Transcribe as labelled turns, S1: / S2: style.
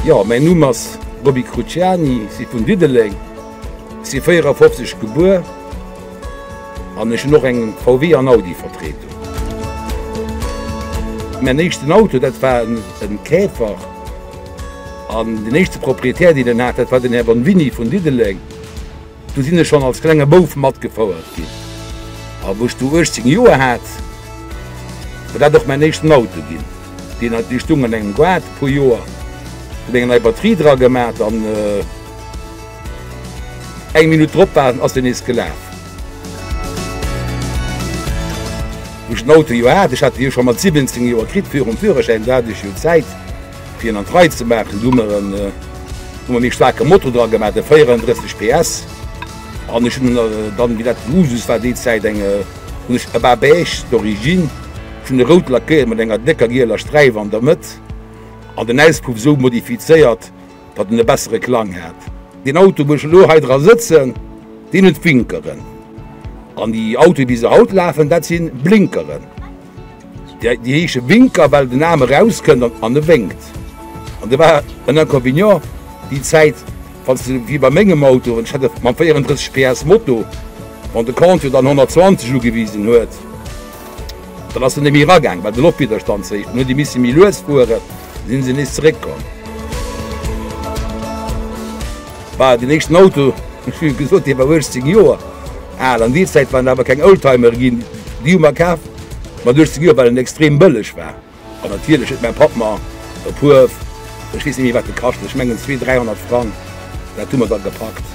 S1: Jo mäin Numm ass Roby Cruciani, si vun Diddeleng, si 54 gebuer an ech hunn och eng VW an Audi Vertretung. Mäin éischten Auto dat war en Käfer an den éischte Propriétaire deen en hat dat war den Här Bonvini vun Diddeleng. Do sinn ech schonn als klenge Bouf matgefouert ginn. A wou ech du 18 Joer hat, war dat och mäin éischten Auto ginn. Deen hat dee stung an engem Gaart e puer Joer, hunn eng nei Batterie dra gemat an eng Minutt drop war en, ass deen nees gelaf. Wou ech den Auto jo hat, ech hat dee jo scho mat 17 Joer kritt, virum Führerschäin, do hat ech jo Zäit. Fir en an d'Rei ze maachen, hu mer e méi staarke Motor dra gemaach, e 34 PS. An ech hunn dann, wéi dat Usus war déi Zäit, eng, hunn ech e bas beige d'origine, ech hunn e rout lackéiert mat enger décker gieler Sträif an der Mëtt an den Auspuff esou modifizéiert, datt en e bessere Klang hat. Deen Auto, wou ech elo hei dra sëtzen, deen huet Winkeren. An déi Autoe wéi se haut lafen, dat si Blinkeren. Déi heesche Winker, well den Aarm erauskënnt an e wénkt. An do war en Inconvénient déi Zäit, wann s de wéi bei mengem Auto, ech hat e mam 34 PS Moto, wann de Contour dann 120 ugewisen huet, dann ass en net méi eragaang, well de Loftwidderstand ze héich war. Dann huet ee misse méi lues fueren, da si se nees zeréckkomm. War den éischten Auto, wéi gesot, dee war 18 Joer al. An déi Zäit waren awer keng Oldtimere ginn. Déi hu mer kaf mat 18 Joer, well en extrem bëlleg war. An natierlech huet mäi Papp mer e puer, ech weess net méi, wat e kascht huet, ech mengen zwee, dräihonnert Frang, dat hu mer da gepackt.